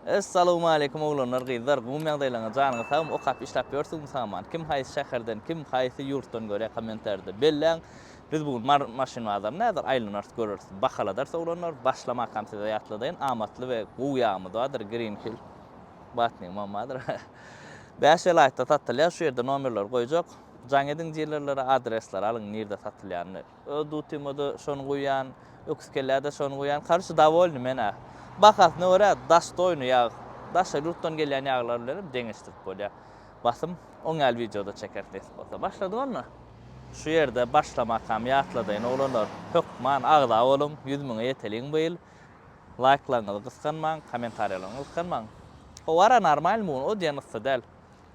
Essalowmaleýkum oglanlar gyzlar gmum ýagdaýlaryňyz janyňyz sagmy okap işläp ýörsiňmi saman kim haýsy şäherden kim haýsy ýurtdan görýä kommentarida belläň biz bu gün mary maşyn bazaryny häzir aýlanars göreris bahaladars oglanlar başlamakam size ýatladaýyn amatly we gowy ýagymyz bardyr green hill batnigimam bardyr bäş welaýatda satylýar şu ýerde nomerleri goýjak jaň ediň dilerlere adresleri alyň nirde satylýanyny. Öz dutyma-da şony guýýan, öküz kellä-de şony guýýan, karoçe, dowolnyý men-ä. Bahasyna görä, dostoýnyý ýag, daşary ýurtdan gelýän ýaglar bilenem deňeşdirip bolýar. Basym, oň ýaly wideo-da çekeris nesip bolsa. Başladyk onda! Şu ýerde başlamakam ýatladaýyn, oglanlar, hökman agza boluň, ýüz müňe ýeteliň bu ýyl! Laýklaryňyzy gysganmaň, kommentariýalaryňy gysganmaň! Howara, normalmy bu gün, o diýen yssy däl.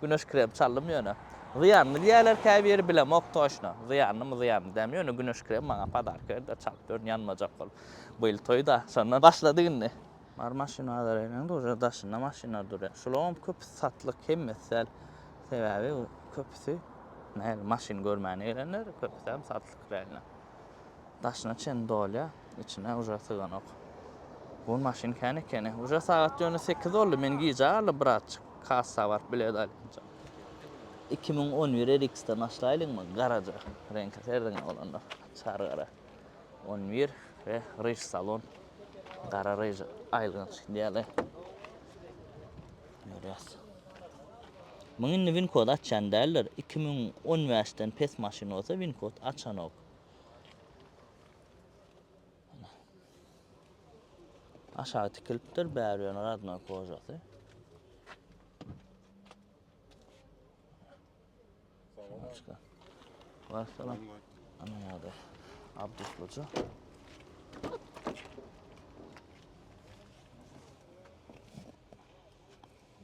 Güneş krem çaldym ýöne. Zyýanly diýýärler käbiri bilemok toşna. Zyýanlymy zyýanly dälmi ýöne güneş krem maňa padarka berdiler çalyp ýörün ýanmajak bolup. Bu ýyl toýda şondan başlady indi. Bar maşyn bazar ýeriniň duže daşynda maşynlar durýar. Şularam köpüsi satlyk hemmesi däl. Sebäbi köpüsi nähili maşyn görmäne gelenler köpüsem satlyk reально. Daşyna çen dolýar, içine uje syganok. Bu maşyn kän ekeni. Uje sagat ýöne sekiz boldy, men gijä galdy bratçyk, kassa baryp bilet alýança. Iki müň on bir RX-den başlaýlyňmy, garaja reňki serdiňä bolanda, çar gara, on bir we ryž salon, gara ryž aýylganç ideale. Görýäs. Muň indi winkod açýan däldir iki müň on bäş den pes maşyn bolsa winkod açanok. Aşagy tikilipdir bäri ýöne radnoý kožasy. Başka. Var salam. Ana ýa-da Abdusluca.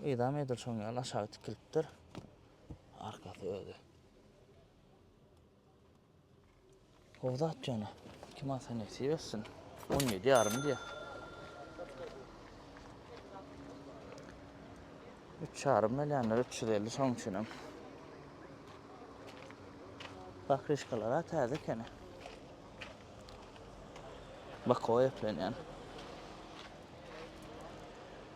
Ydam edil şoň ýaly aşagy tikilipdir. Arkasy özi. O zat jana. Kim alsa nesip etsin. 17 yarım diye. 3 yarım milyanlar 350 son içinim. Bak rişkalara taze kene. Bak o eplenen.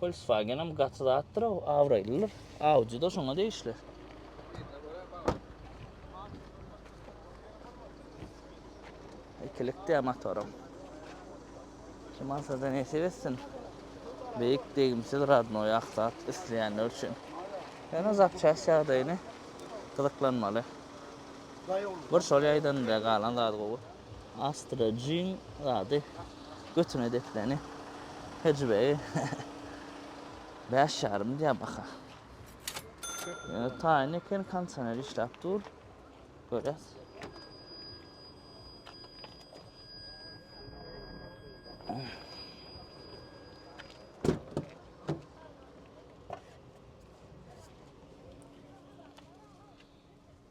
Volkswagen'em gaty zatdyr o, abraýlydyr. Audi da şoňa degişli. Ikilikde motorum. Kim alsa da nesip etsin. Beýik degimsiz radnoý aksat isleýänler üçin. Ýöne zapçast ýagdaýyny gyzyklanmaly. Bir şol ýaýdan da galan zady gowy. Astra jyn zady götüne depleni hejibegi bäş ýarym diýä baka. Ýöne taýyn eken kondisioner işläp dur. Görýäs.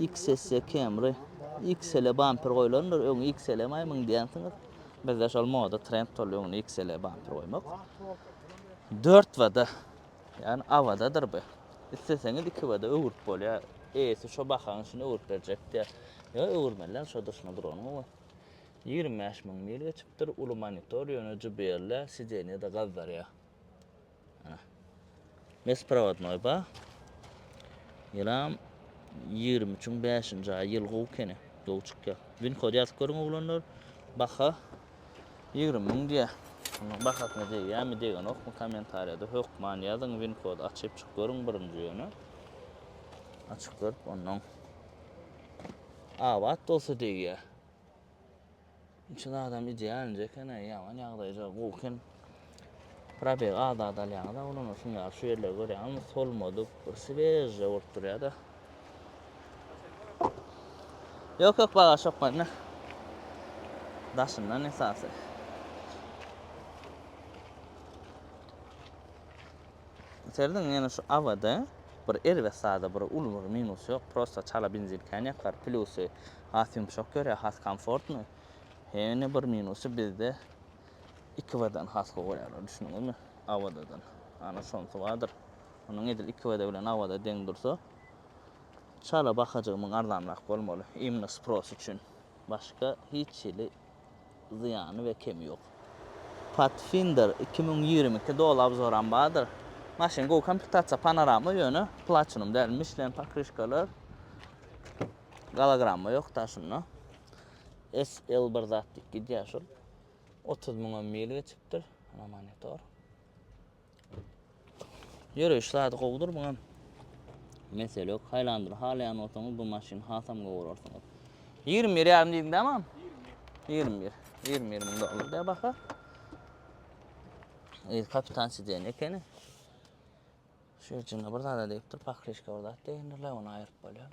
XSE Camry, XL bamper goýlandyr, öňi XL emaý myn diýensiňiz. Bizde şol moda trend boldy öňüne XL bamper goýmak. 4 wada, ýagny awadadyr bu. Isleseňiz 2 wada öwürip bolýar. Eýesi şo bahaň içinde öwürip berjek diýýär. Ýa öwürmeliler şo durşuna duranyň we 25 müň mil geçipdir, uly monitor, ýöne JBL-de sidenýe-de gazdarýar. Besprovadnoý ba. Ýylam ýigrimi üçiň bäşinji aýy ýyl gowy kene. Gowy çykýar. Win kod ýazyp görüň oglanlar. Baha ýigrimi müň diýýä. Onuň bahasyna degýärmi, degenokmy kommentariýada hökman ýazyň. Win kod açyp çyk görüň birinji ýöne. Açyk görüp onnoň abat bolsa degýär. Üçin adam idealnje ekeni ýaman ýagdaýja gowy eken. Probeg az az alýaňyz awlana şuny ýaly şu ýerleri görýäňizmi solmadyk bir swejja bolup durýada. Ýok ýok bagaş ýok mende. Daşyndan esasy. Serdiň ýene şu awada bir erbet zada bir uly bir minus ýok prosta çala benzin kän ýakar plusy Has ýumşak ýörä has komfortny. Hene bir minusy bizde iki wdan has gowy goýarlar düşündiňizmi awadadan. Ana şonsy bardyr. Onuň edil iki wda bilen awada deň dursa çala bahajygy muň arzanrak bolmaly imno spross üçin. Başga hiç hili zyýany we kemi ýok. Patfinder iki müň ýigrimi iki doly obzoram bardyr. Maşyn gowy komplektasiýa panarama ýöne platinum däl. Michlin pokryşkalar. Gologramma ýok daşynda. SL bir zat diýip gidýär şol. 30 müňe mil geçipdir. Ana monitor. Ýöreýiş zady gowudyr muňam. Mesele ýok. Highlander halaýan bolsaňyz bu maşyny hasam gowy görersiňiz. 21 ýarym diýdim dämam. 21. 21 müň dollar diýär baha. Ey kapitan siden ekeni. Şu ýerçinde bir zada diýipdir, pakrişka bir zat diýendirler, ony aýryp bolýar.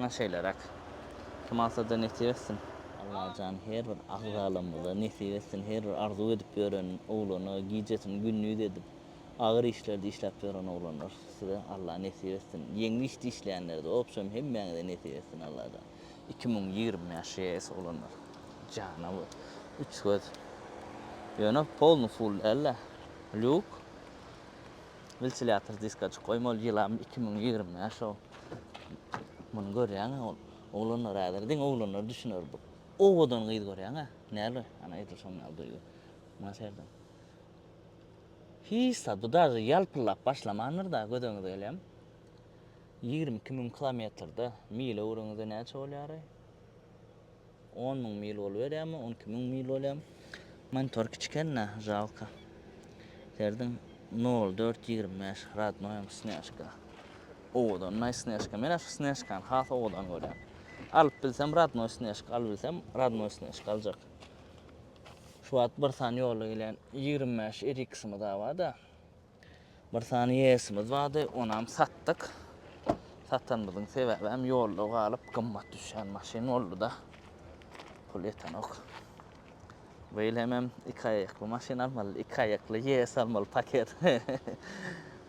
Muňa şeýleräk. Kim alsada nesip etsin. Allajan her bir agzalamyza nesip etsin her bir arzuw edip ýören oglana gijesini gündiz edip agyr işlerde işläp ýören oglanlar size Alla nesip etsin ýeňli işte işleýänlerde obşem hemmäňize nesip etsin Allajan iki müň ýigrimi bäş ýees oglanlar jana bu üç göz ýöne polny full dälda lýuk. Wiltilýator diskaçyk goýma ol ýylam iki müň ýigrimi bäş o muny görýäňä ol oglanlar häzir diňe oglanlar düşüner bu owadan gyz görýäňä näl ana edil şonuň ýaly duýgy muňa serediň hiç zat bu daže ýalpyldap başlamandyr da göz öňüňize gelýämi ýigrimi iki müň kilometrde mile öwreniňizde näçe bolýary On müň mil boluberýärmi, on iki müň mil bolýarmy? Monitor kiçikennä, žalka. Serediň nol dört ýigrimi bäş rodnoýam snýažka. Owadan naý snýažka. Men-ä şu snýažkany has owadan görýän. Alyp bilsem rodnoý snýažka alybilsem rodnoý snýažka aljak. Şu wagt bir sany ýola gelen ýigrimi bäş RX-ymyz-a bar-da. Bir sany ES-imiz bardy, onam satdyk. Satanymyzyň sebäbem ýolda galyp gymmat düşýän maşyn boldy-da. Pul ýetenok. Bu ýyl hemem iki aýakly maşyn almaly, iki aýakly ES almaly paket.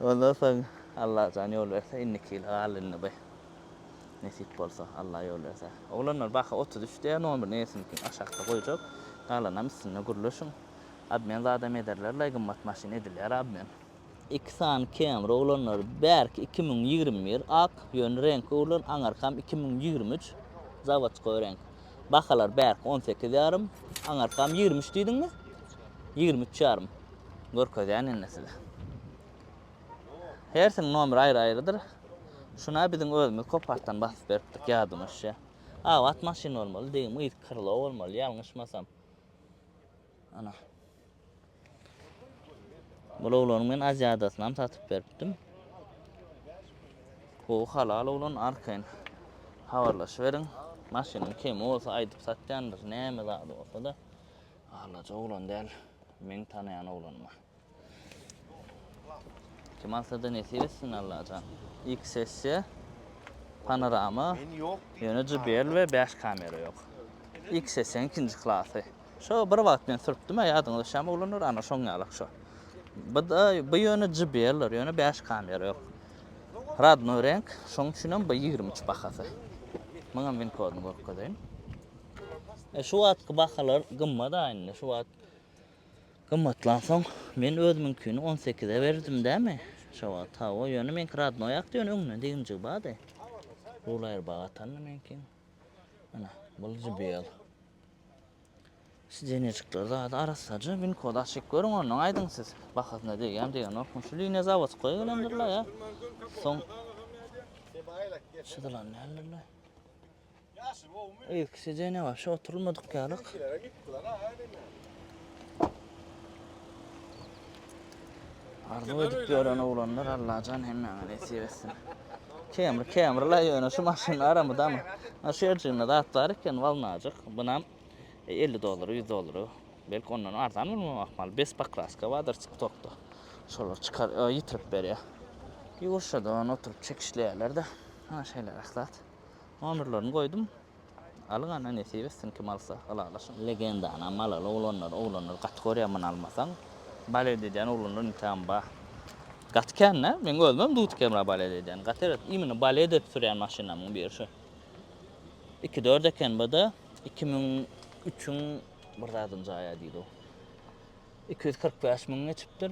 Ondan soň Allajan ýol berse indiki ýyla galdy indi bu. Nesip bolsa, Alla ýol berse. Oglanlar baky otuz üç diýýär, nol bir ES-niňkini aşakda goýjak. Galanam üstünde gürleşiň. Obmen zadam ederler lay gymmat maşyn edilýär obmen. Iki sany Camry oglanlar bärki iki müň ýigrimi bir ak ýöne reňki oglan aňarkam iki müň ýigrimi üç zawodskoý reňk bahalar bärki on sekiz ýarym aňarkam ýigrimi üç diýdiňmi ýigrimi üç ýarym görkezýän indi size hersiniň nomeri aýry aýrydyr şuna biziň özümiz kopartdan basyp beripdik ýadyma düşýä abat maşyn bolmaly degim yz krlo bolmaly ýalňyşmasam. Ana. Bul oglany men Aziadasynam satyp beripdim. Gowy halal oglan arkaýyn habarlaşyberiň. Maşynyň kemi bolsa aýdyp satýandyr, näme zady bolsa-da. Alaja oglan däl, meň tanaýan oglanma. Kim alsada nesip etsin Allajan. Ilki sessiýa panorama ýöne JBL we bäş kamera ýok. Ilki sessiýaň ikinji klasy. Şo bir wagt men sürüpdimä ýadyňyzda şäm oglanlar ana şoň ýalak şo. Bu da bu ýöne JBL ýöne bäş kamera ýok. Radnoý renk şoň üçinem bu ýigrimi üç bahasy. Muňam win kodyny görkezeýin. E şu wagtky bahalar gymmat-a indi şu wagt. Gymmatlansoň, men özümiňkini on sekize berdim dämi? Şo wagt, hawa, ýöne meňki radnoýakdy, ýöne öňünden degimjigi bardy. Rul aýrybaga atanda meňki. Ana, bul JBL. Sidenýejikler zady arassaja, winkody açyp görüň, ondan aýdyň siz, bahasyna degýärmi, degenokmy. Şu liniýa zawodskoýa gelendir-le ýa soň çyzylan däldir-le. Yzky sidenýa başy oturylmadyk ýalyk. Arzuw edip ýören oglanlar Allajan hemmäňe nesip etsin. Kemri kemri la ýöne şu maşyn aramydamy? Ha şu ýerjiginde zat bar eken walnajyk. Bunam 50 dollara 100 dollara. Belki ondan arzan bolmagy ahmal. Bes pakraska bardyr tiktokda. Şolar çykar ýitirip berýär. Ýurşada oturyp çekişleýärler-de. Ha şeýleräk zat. Nomerlerini goýdum. Alyň ana nesip etsin kim alsa ylalaşyň. Legenda ana malaly oglanlar oglanlar gaty görýän muny almasaň balet edýän oglanlar intän ba gaty kän da meň özümem dut kemra balet edýän gaty eret imini balet edip sürýän maşynamyň biri şu iki dört eken bada iki müň üçüň bir zadynjaýa diýdi o iki ýüz kyrk bäş müň geçipdir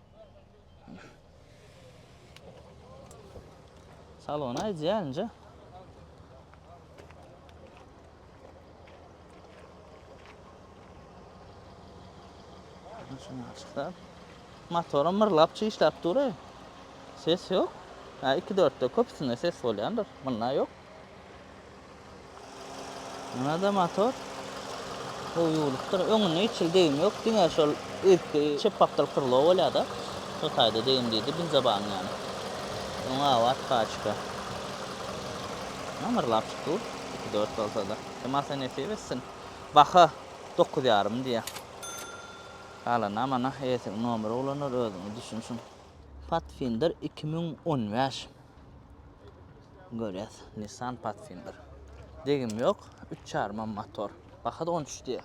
Salon aýdýar inje. Şunu açyklap. Motorum mırlap çişlap dur. Ses yok. Ha 2-4'te köpüsinde ses bolýandyr. Bunda yok. Munada motor gowy ýuwlupdyr. Öňünde hiç hili degim ýok. Diňe şol üstki çepbapdyr krlo bolýada. Şo taýda degim diýdi benzobanyň ýany. Öňi abat paçka. Ýamyrlap çykyp iki dört bolsada. Masa nesip etsin. Baha dokuz ýarym diýýä. Galany amana eýesiniň nomeri ulanar özüňiz düşünşiň. Pathfinder iki müň on bäş. Görýäs Nissan Pathfinder. Degim ýok, üç jarymam motor. Baha-da on üç diýýär.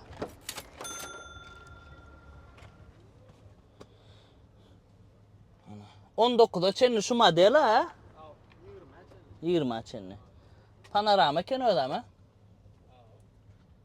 On dokuza çenli şu model a? Ýigrimi çenli. Panorama eken özem a?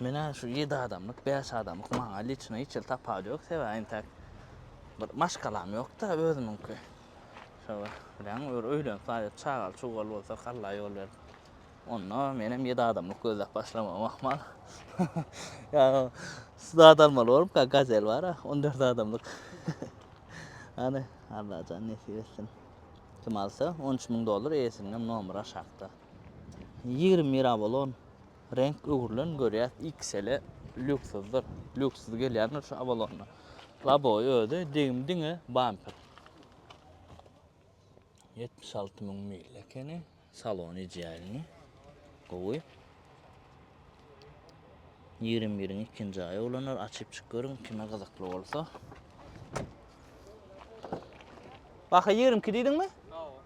Menä şu ýedi adamlyk, bäş adamlyk maňa liçno hiç hili tapawy ýok, sebäbi entäk bir maşgalam ýok-da özümiňki. Şo bir, bileňmi, bir öýlenip aýryp çagaly-çugaly bolsak Alla ýol berip, onda menem ýedi adamlyk gözläp başlamagym ahmal. Ýa zat almaly bolupka, Gazel bar-a, on dört adamlyk. Hany, Allajan nesip etsin. Kim alsa, on üç müň dollar, eýesiniňem nomeri aşakda. Ýigrimi mirabolon reňk öwrülen görýäs XL-e lýuksuzdyr. Lýuksuz gelýändir şu abolonda. Laboý özi degim diňe bamper. 76 müň mil ekeni. Salon idealny. Gowy. 21-iň ikinji aýy ulanlar açyp çyk görüň kime gyzykly bolsa. Baha 22 diýdiňmi?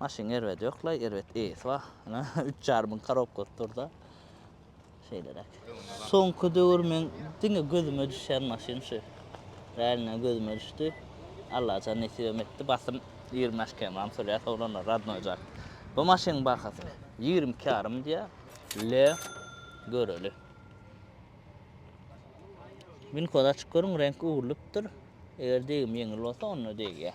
Maşynyň erbedi ýoklaý, erbet eýesi bar. Ine, üç ýarym müň korobkasy dur-da. Şeýleräk. Soňky döwür meň diňe gözüme düşýän maşyn şu. Räline gözüme düşdi. Allajan nesibem etdi. Basym ýigrimi bäş km-am sürýär, soglanlar, rodnoý jaý. Bu maşynyň bahasy ýigrimi iki ýarym diýýär. Le, göreli. Winkody açyp görüň, reňki öwrülipdir. Eger degim ýeňil bolsa, onda degýär.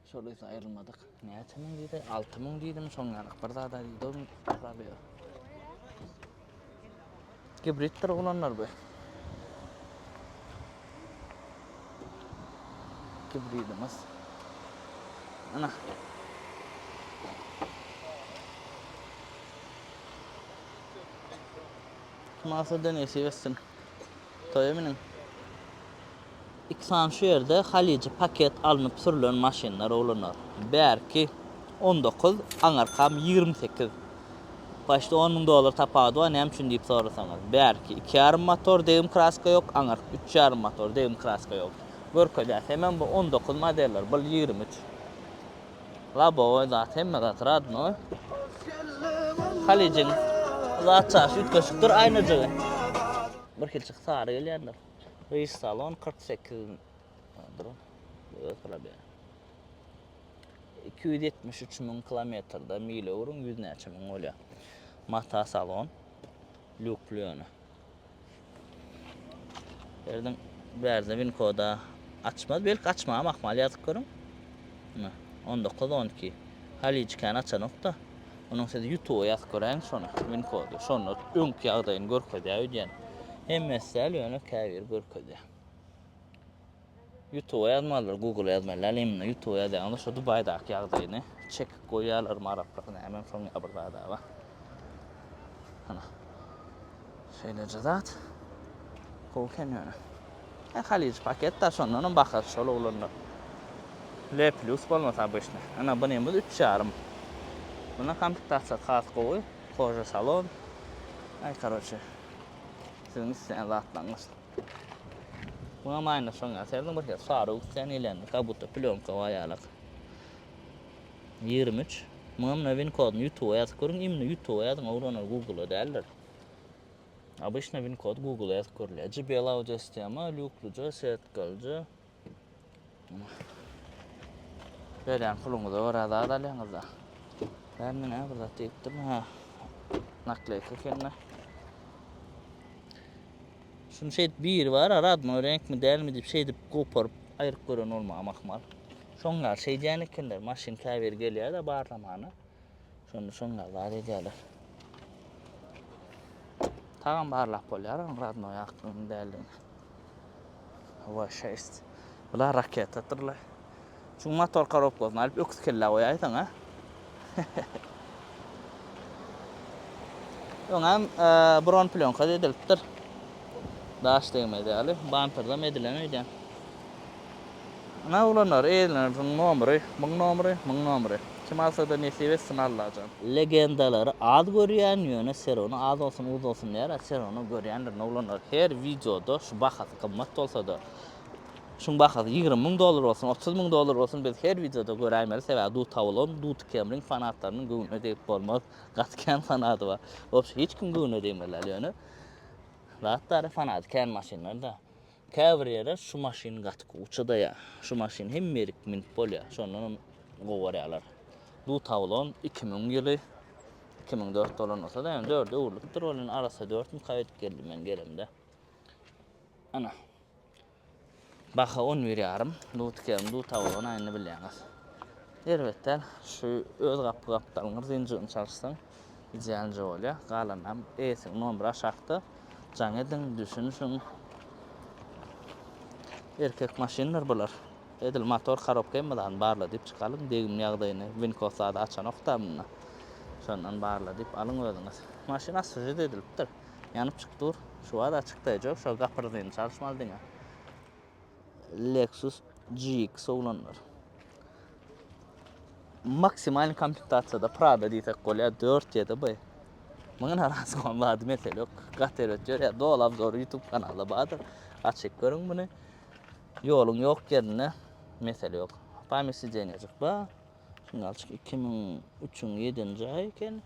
Şol öýde aýrylmadyk. Näçe müň diýdi? Alty müň diýdimi, şoň ýalyk bir zad-a diýdi ol Rabi. Gibriddir oglanlar bu. Gibridimiz. Ana. Masa denesi versin. Toýa miniň. Iki sany şu ýerde halyjy paket alnyp sürlen maşynlar oglanlar. Bärki on dokuz aňarkam ýigrimi sekiz. Paçta on müň dollar tapawudy bar näme üçin diýip sorasaňyz. Bärki iki ýarym motor degim kraska ýok aňark üç ýarym motor degim kraska ýok. Görkezýär hemem bu on dokuz modeller bul ýigrimi üç. Lobowy zat hemme zat radnoý. Halyjyň zat çaşy üýtgeşikdir aýnajygy. Bir hilçik sary gelýändir. Rys salon 48 dur. Öz problem. 273 müň kilometrde mil öwrüň 100 näçe müň bolýar. Mata salon. Lüklüne. Erdiň bärdine win koda açmaz. Belki açmagam ahmal ýazyp görüň. Ine, 19, 12. Halyjy kän açanokda. Onuň siz YouTube ýazyp göräýiň şony, win kody. Şonda öňki ýagdaýyny görkezýär öýdýän. Hemmesi däl ýöne käbiri görkezýär. Ýutuba ýazmalydyr, Google-a ýazmaly däl, iň mundan Ýutuba ýazýaňyzda şo Dubaýdaky ýagdaýyny çekip goýýarlarmy araplar nämem şoň ýaly bir zada-a. Hana. Şeýleje zat. Gowy eken ýöne. He, Halij paket da şondanam bahasy şol oglanlar. Le plus bolmasa obyçny. Ana bunymyz üç ýarym. Buna komplektasyýasy has gowy, kože salon. Aý karoçe. Siziň isleýän zatlaryňyz. Muňa maýna şoň ýa serdiň bir hek sary üstän gelýän kabuta plýonka bar ýalak. 23. Muňa mine win kodyny ýutuba ýazyp görüň imni ýutuba ýazyň owranar gugula däldir. Abyşna win kod gugula ýazyp görülýär. JBL audio sistema, lýuklyja, setkalyja, Berýän puluňyza görä zat alýaňyz-da. Sen menä bir zat diýipdim, ha. Nakleyka ekende. Şunu şeýdip biri bar, radnoý reňkmi, dälmi diýip şeýdip goparyp aýryp gören bolmagam ahmal. Şoň ýaly şeýdýän ekenler, maşyn käbir gelýär-de barlamana. Şonda şonlar zat edýärler. Tagam barlap bolýar, onuň radnoý akdygyny däldigini. Hava 6. Bular raketadyrlar. Şu motor korobkasyny alyp öküz kellä goýaýsaň ha. Öňem e, bron plyonka edilipdir. Daş degmez ýaly, banterden edilen öýdýän. Ana oglanlar eýleniň nomry myň nomry myň nomry kim alsada nesip etsin Allajan. Legendalary az görýän ýöne serony az bolsun uz bolsun diýer a serony görýändir noglanlar her wideoda şu bahasy gymmat bolsada şuň bahasy ýigrimi müň dollar bolsun otuz müň dollar bolsun biz her wideoda göräýmeli sebäbi dut awulgym duty kemriň fanatlarynyň göwnüne degip bolmaz gaty kän fanaty bar wobşe hiç kim göwnüne degmeli däl ýöne zat bary fanaty kän maşynlarda. Käbir ýere şu maşyn gaty kow çydaýar. Şu maşyn hemme ýerik münüp bolýar. Şondanam gowy görýärler. Dut awlan iki müň ýyly, iki müň dört dolan bolsa-da, ýöne dörde öwrülipdir. Ol indi arassa dört müň kaýa ötüp geldi men gelemde. Ana. Baha on bir ýarym. Dut ikämiň dut awlan aýyny bilýäňiz. Erbet däl. Şu öz gapy-gapdalňyr zynjyryny çalyşsaň, Idealnje bolya galanam eýsini nomer aşakda jaň ediň düşünişiň erkek maşynlar bular edil motor karobka hemme zadyny barla diyip çykalyň degim ýagdaýyny winko zady açanokda munda şondan barla diyip alyň özüňiz maşyn asfžit edilipdir ýanyp çyk dur şu wada çykdaýjok şo gapyrzyny çalyşmaly diňe. Lexus GX oglanlar. Maksimal komplektasiýada Prada diýsek bolýar 4 ýa-da B. Muňa naraz bolan bady mesele ýok. Gat erbet ýörýär. Doly obzor YouTube kanalda bardyr. Açyp görüň muny. Ýoluň ýok ýerinde mesele ýok. Pamýat sidenýajyk bar. Şunda alçyk 2003-iň 7-nji aýy eken.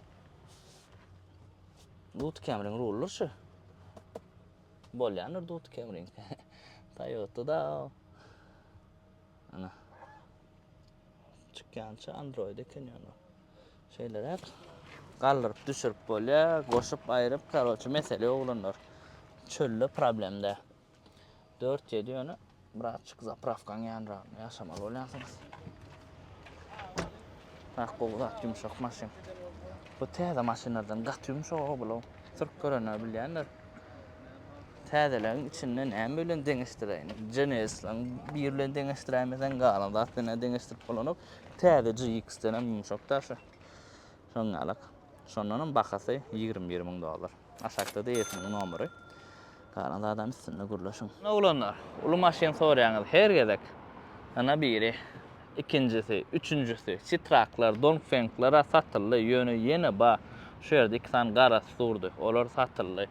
Lut Camry-nyň rullar şu. Bolýandyr dut kemrin. Toyota-da. Ana. Çykýança Android eken ýöne. Şeýleräk galdyryp düşürip bolýar, goşup aýryp, karoçe mesele oglanlar. Çölde problemde. 4-7 ýöne Bratçyk zaprawkaň ýanragynda ýaşamaly bolýansyňyz. Bak gowy zat ýumşak maşyn. Bu täze maşynlardan gaty ýumşak o bulaw. Sürüp görenler bilýänler. Täzeleň içinde näme bilen deňeşdireýin? Genesleň bir bilen deňeşdiräýmesen galan zat bilen deňeşdirip bolanok. Täze GX-den hem ýumşak daşy. Öňňälik. Şondanam bahasy ýigrimi bir müň dollar. Aşakda-da eýesiniň nomeri. Galan zadam üstünde gürleşiň. Oglanlar, uly maşyn sorýaňyz her gezek. Ana biri, ikinjisi, üçünjisi, Sitraklar, Dongfengler-ä satyldy, ýöne ýene bar. Şu ýerde iki sany garasy durdy. Olar satyldy.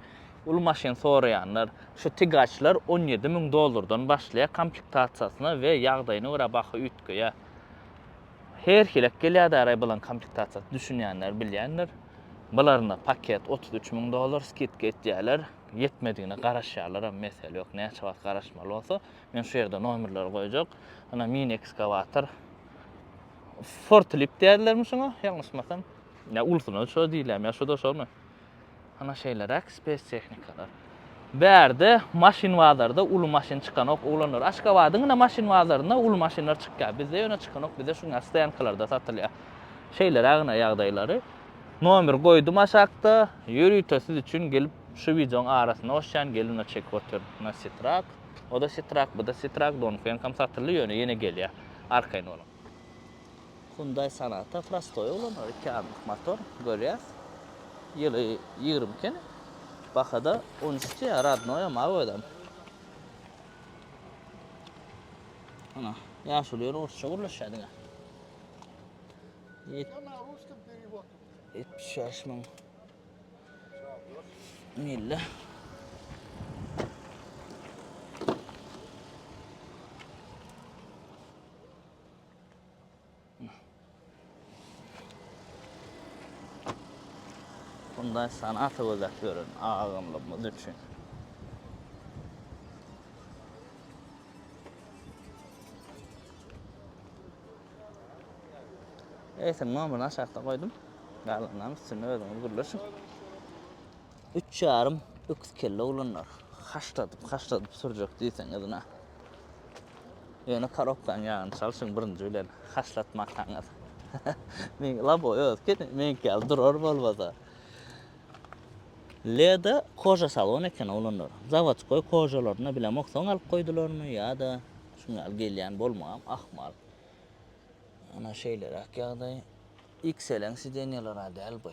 Uly maşyn soraýanlar, şu Tigaçlar on ýedi müň dollardan başlaýar komplektasiýasyna we ýagdaýyna görä baha üýtgeýär. Her hilek gelýärdi araý bulan komplektasiýasy düşünýänler bilýändir. Bularyna paket otuz üç müň dollar skidka etýärler. Ýetmedigine garaşýarlaram mesele ýok. Näçe wagt garaşmaly bolsa. Men şu ýerde nomerleri goýjak. Ana mini ekskawator. Fortlip diýerlermi şuňa ýalňyşmasam. Ýa ulusyna şo diýilýärmi ýa şuda şomy. Ana şeýleräk spes tehnikalar. Bärde maşyn bazarda uly maşyn çykanok oglanlar. Aşgabadyň ine maşyn bazarynda uly maşynlar çykýar. Bizde ýöne çykanok. Bizde şu günä stoýankalarda satylýar. Şeýleräk ine ýagdaýlary. Nomer goýdum aşakda. Ýörite siz üçin gelip şu wideoň arasyna goşýan gelip ine çekip otyr. Ine sitrak. Oda sitrak, buda sitrak, donfenkam satyldy ýöne ýene gelýär. Arkaýyn boluň. Hyunday Sonata prostoý ulanylýar, iki adamlyk motor, görýäs. Ýyly ýigrimi ekeni. Bahada on üç diýýär, rodnoýam, awiadam. Ana, ýaşuly ýeri orsça gürleşýär diňe. Ýetmiş bäş müň mille. Hyundaý Sonata gözläp ýören agamlarymyz üçin. Eýsem, nomerini aşakda goýdum. Galanlaryny üstünde özüňiz gürleşiň. Üç ýarym öküz kelle oglanlar. Haşladyp, haşladyp sürjek diýseňiz na. Ýöne korobkaň ýagyny çalşyň birinji bilen, haşlatmakaňyz. Meň laboý öz kene, meňki ýaly durar bolmasa. Leda koja salon eken oglanlar. Zawodskoý kojalaryny bilemok soň alyp goýdularmy ýa-da şuň ýaly gelýän bolmagam ahmal. Ana şeýleräk ýagdaý. XL-iň sidenýeleri-ä däl bu.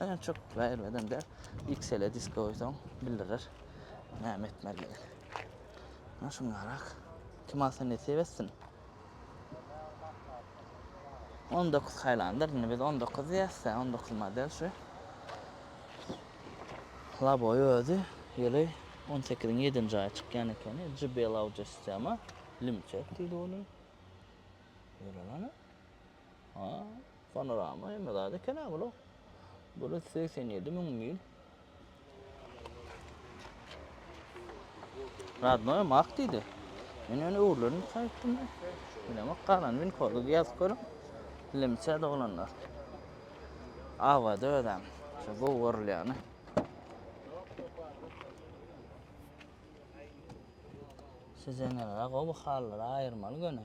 Ýöne çok berilmeden de XL disk goýsaň bildirer näme etmelidigi. Ana şunlarak. Kim alsa nesip etsin. 19 Highlander, indi biz 19 diýäs, 19 model şu. Laboy özi ýyly 18-iň 7-nji aýy çykýan ekeni. JBL audio sistema, limçek diýdi ony. Ýöre Ha, panorama hemme zat eken-ä bula. Bula segsen ýedi müň mil. Radnoýam ak diýdi. Men ýöne öwrülenip gaýtdym. Bilemok, galan winkorda ýazyp görüň. Dilemçä doglanlar. Awada özem. Şu gowy görülýäni. Siz eneler-ä gowy halylar aýyrmaly göni.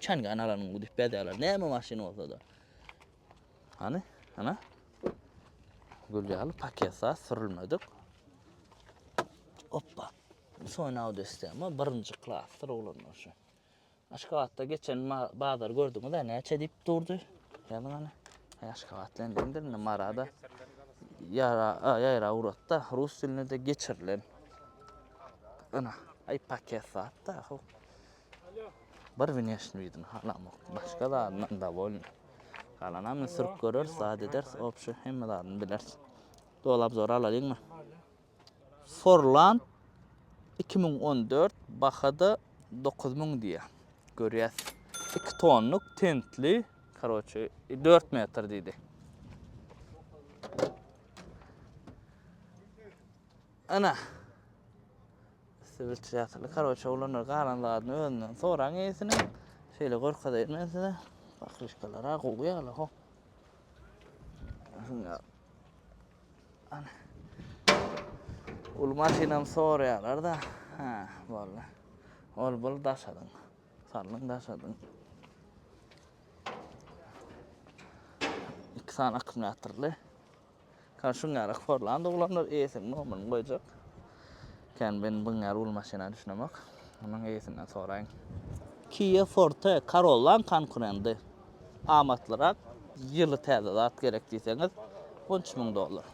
Çengi analarnyň bu düp bezegleri näme maşyn bolsa-da. Hany, ana. Gül ýaly paket zat sürülmedik. Oppa. Soň audestema birinji klasdyr oglanlar şu. Aşgabatda geçen bazar gördüňiz-ä näçe diýip durdy. Ýazyň ana. Aşgabat bilen deňdir indi Marada. Ýara, ýaýra uratda rus dilinde de geçirilen. Ana, aý paket zat-da. Bir wneşniý widini halamok, başga zadyndan dowolnyý. Galanam indi sürüp göreris, zat ederis, obşi hemme zadyny bileris. Doly obzory alalyňmy? Forland iki müň on dört bahada dokuz müň diýýär. Görýäs. Iki tonluk tentli, karoçi, dört metr diýdi. Ana. Sibirçäsli karoçe oglanlar galan zadyny özünden soraň eýesiniň. Şeýle görkezeýin men size. Bakryşkalar a gowy ýaly ho. Şunlar. Ana. Ul maşynam soraýarlar da. Ha, boldy. Ol bul daşadyň. Sallyň daşadyň. Iki sany akkumulýatorly. Ka şuň ýaly yhporlan doglanlar eýesiniň nomyryny goýjak. Kän men buň ýaly uly maşyna düşünemok. Munuň eýesinden soraýyň. Kia Forte Corollaň konkurendy. Amatlyrak, ýyly täze zat gerek diýseňiz, on üç müň dollar.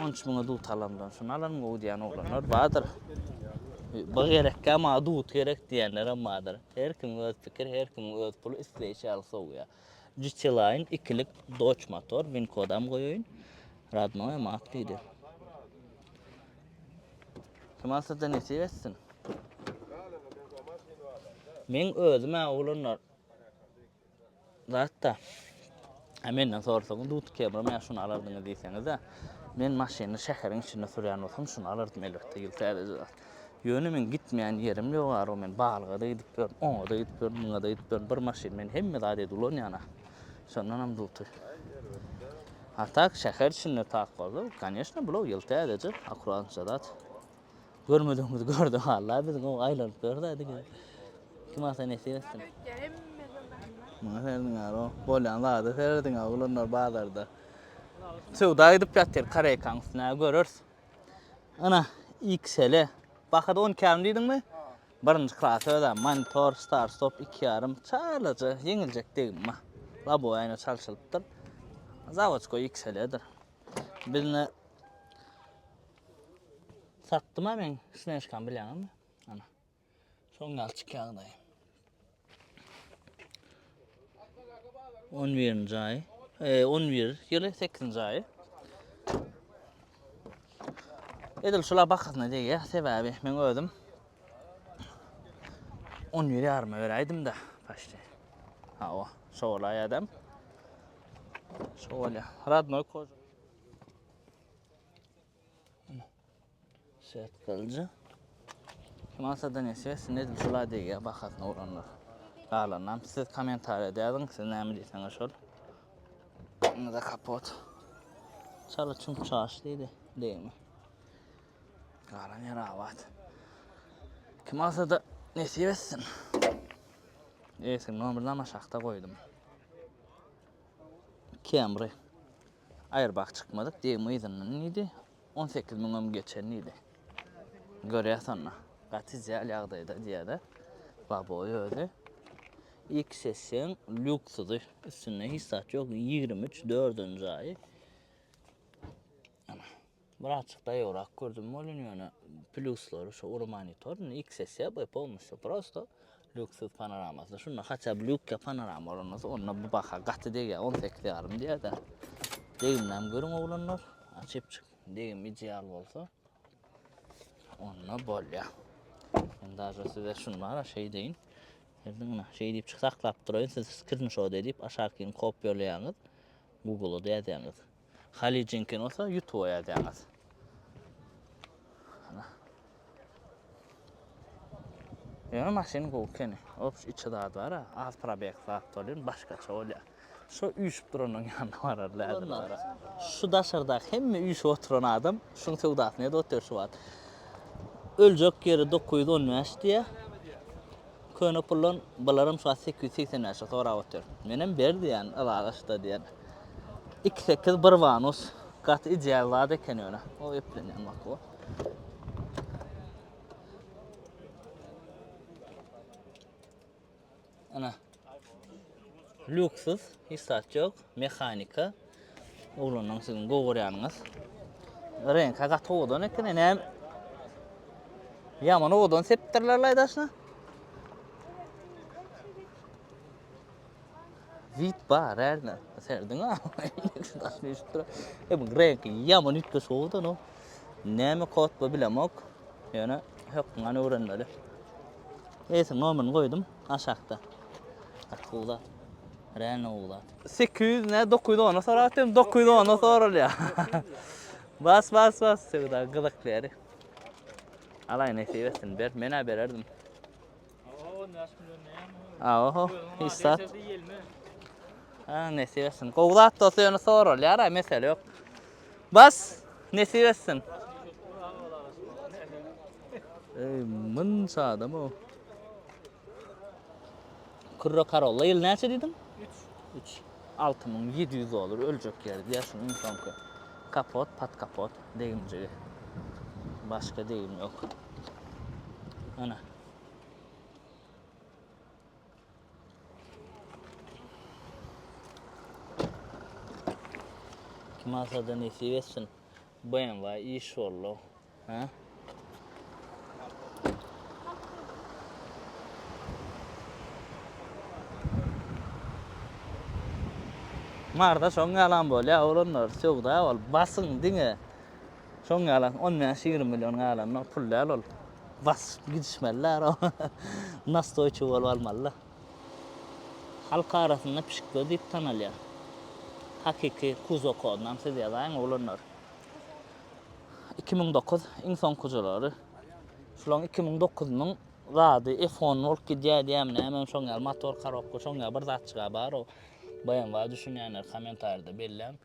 On üç müňe dut alamdan şuny alaryn gowy diýýän oglanlar bardyr. Bu gerekkä maňa dut gerek diýýänlerem bardyr. Her kimiň öz pikiri, her kimiň öz puly isleýşi ýaly sowýar. Gtline ikilik Dodge motor win kodam goýaýyn. Radnoýa mat diýdi. Kemal sizde nesip etsin. Men özüm-ä oglanlar zatda Hä menden sorsaň Dut Camry men şuny alardyňyz diýseňiz-ä. Men maşyny şäheriň içinde sürýän bolsam şuny alardym elbetde ýyl täzeje zat. Ýöne meň gitmeýän ýerim ýok arow men balyga-da gidip ýörün, oňa-da gidip ýörün, muňa-da gidip ýörün, bir maşyn men hemme zat edip ulanýan-a. Şondanam dulty. A tak şäher içinde tak bolsa, koneşne bular ýyl täzeje, akuratnça zat. Görmedigimizi gördük walla biz gowy aýlanyp ýörüs-ä diňe. Kim ata nesip etsin. Muňa serediň arow, bolýan zada serediň-ä oglanlar bazarda. Söwda gidip ýatyr, koreýkaň üstüne görürs. Ana, XL. Bahada on ikärim diýdiňmi? Birinji klas özem monitor, star stop iki ýarym, çalaja, ýeňiljek degme. Labowy aýna çalşylypdyr. Zawoçka XL-dir. Bizne satdym-a men, snejkam bilýäňizmi? Ana. Soň ýaly çykýaň daýy. On birinji aý. E, on bir ýyly, sekizinji aýy. Edil şula bakasyna degýär, sebäbi men özüm on bir ýaryma beräýdim-de, paşti. Hawa, şo bolaý adam. Şo bolýar. Radnoý koža. Şetgalja. Kimasa da ne ses, ne edip şula degýär bahasyna uranlar. Galanam siz kommentariýada ýazyň, siz näme diýseňiz şol. Indi de kapot. Çala çum çaş diýdi, degme. Galan ýer abat. Kimasa da nesip etsin. Eýsin, nomerlama şahta goýdum. Camry. Aýrbag çykmadyk diýgim yzyndan diýdi. On sekiz müňem geçen diýdi. Görýäs onda. Gaty ideal ýagdaýda diýýär-de. Laboýy özi. XS-iň lýuksudy. Üstünde hiç zat ýok. Ýigrimi üç, dördünji aýy. Ana. Bir azjyk daýawrak gördüm welin ýöne plýuslary şu ury monitor indi XS ýa B polnostýu prosto lýuksyz panoramasy şunda haçan bir ýukka panorama bolan bolsa onda bu baha gaty degýär on sekiz ýarym diýerdi degimläm görüň oglanlar açypjyk degim ideal bolsa onda bolýar men daže size şuny bara şeý deýin Erdiňine şeý diýip çyk saklap duraýyn siz skrinşot edip aşakyny kopýalaýaňyz Google-a ýazýaňyz Hali Jinkin bolsa YouTube ýazýaňyz. Ýöne maşyn gowy ekeni. Ops içi zat bar, az probeg zat bolýar, başgaça bolýar. Şu üýşüp duranyň ýanyna barar läzimdir. Şu daşardaky hemme üýşüp oturan adam şuň söwdasyny edip otyr şu wagt. Öljek ýeri 915 diýýär. Köne puldan bularam şu wagt sekiz ýüz segsen bäşe sorap otyr. Menem ber diýýän ylalaşda diýen. Iki sekiz bir wanus. Gaty ideal zat eken ýöne. O eplenýän bak bu. Ana. Luksus, hiç zat ýok, mehanika. Oglanlaň siziň gowy görýäniňiz. Reňka gaty owadan eken, näme? Ýaman owadan sepdirler laýdaşna. Wit bar, ärne. Serdiň a. E bu reňki ýaman üýtgeş owadan o. Näme kod bu bilemok. Ýöne hökmany öwrenmeli. Eýse nomerini goýdum. Aşakda. Gaty gowy zat. Realno gowy zat. 800 ne 900 ona sorap atym 900 ona sorulýa. Bas bas bas söwda gyzykly ýeri. Alaý nesip etsin ber menä bererdim. Aoho, hiç zat. Ha, nesip etsin. Gowy zat dosty ýöne sorulýar, mesele ýok. Bas nesip etsin. Ey myn sadam o. Kürre karolla ýyl näçe diýdim? 3. 3. 6700 dolar öljek ýeri diýär şunuň soňky. Kapot, pat kapot degimjigi. Başga degim ýok. Ana. Kim alsa da nesip etsin. BMW iş oldu. Ha? Marda şoň ýalan bolýar, oglanlar, söwda ol, basyň diňe. Soň galan on bäş ýigrimi million galanyna pul däl ol. Basyp gidişmeliler ony. Nastoýçy bolup almalylar. Halk arasynda pişikler diýip tanalýar. Hakyky kuzo kodynam siz ýazaýyň oglanlar. Iki müň dokuz iň soňkujylary. Şulaň iki müň dokuzynyň zady F-on bolup gidýär diýýärmi nämemi şoň ýaly motor korobka şoň ýaly bir zatjyga bar o. BMW düşünýänler kommentarýada belläň.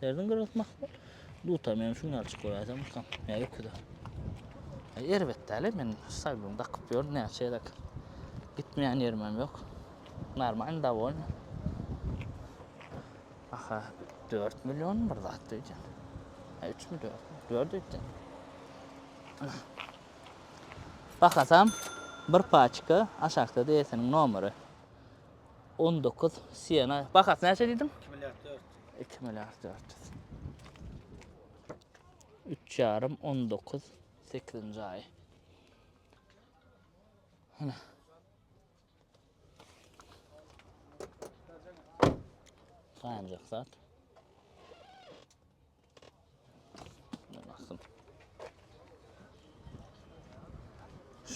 Derdiň gyrgytmak dutam ýöne şuny açyk görýäsem utam. Ýa öküze. Ýa erbet däle men saýluny dakyp ýörün näçe ýerek. Gitmeýän ýerimem ýok. Normalny dawoyny. Aha 4 million bir zat diýjän. Ýa 3 mi 4 mi? 4 diýjän. Bahasam bir paçka aşakda DS'niň nomeri. 19 Siena. Bahasy näçe diýdiň? 2 milliard 4. Iki milliard dört ýüz. Üç ýarym, on dokuz, sekizinji aý. Hana. Saýanjak zat.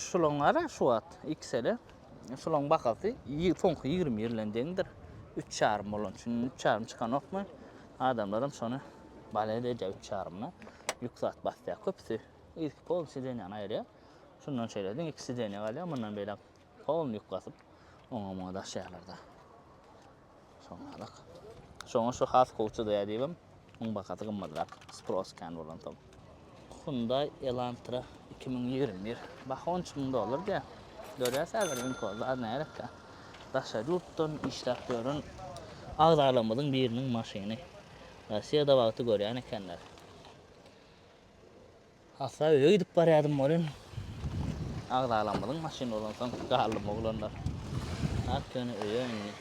Şulaň gara şu wagt XL-e. Şulaň bahasy soňky 20 ýyl bilen deňdir. 3,5 bolan üçin 3,5 çykanokmy? Adamlar hem şony bale edýär 3,5-na. Ýük zat basýar köpüsi. Ilki pol sidenýany aýyrýar. Şundan şeýle-de iki sidenýa galýar. Mundan beýläk pol ýük basyp oňa-muňa daşaýarlar-da. Şonalak. Şoňa şu has howçudy ädibem, muň bahasy gymmadrak, spros kän bolansoň. Hyundai Elantra iki müň ýigrimi bir. Baha on üç müň dollar diýýär. Görýäs häzir Winko zat närekkä. Daşary ýurtdan işläp ýören agzalarymyzyň biriniň maşyny. Rossiýada wagty görýän ekenler. Hasaba öýe gidip barýardym welin, agzalamyzyň maşyny bolansoň, galdym oglanlar. Has ýöne öýe indi.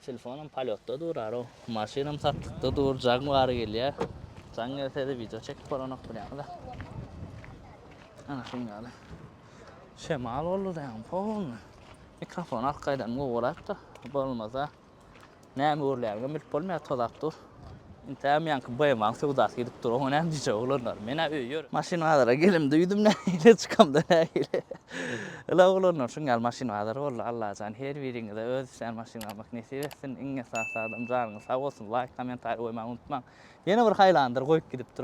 Telefonam polýotda durar-ow. Maşynam satlykda dur, jaň bary gelýär. Jaň gelse-de wideo çekip bolanok bilýäňiz-ä. Ana şuň ýaly. Şemal boldy daýaň, polny. Mikrofon arkaýdanam gowurak-da, bolmasa. Näme öwrülýändigem bilip bolmaýar, tozap dur. Intäm ýaňky BM-nyň söwdasy gidip dur, oňa näme diýjek oglanlar. Men-ä öýe ýörün. Maşyn bazara gelim duýdum nähili, çykamda nähili. Ýyla oglanlar şuň ýaly maşyn bazary boldy. Allajan her biriňize öz isleýän maşynyňyzy almak nesip etsin. Iň esasy zadam janyňyz sag bolsun. Laýk, kommentariý goýmagy unutmaň. Ýene bir haýlandyr goýup gidipdir.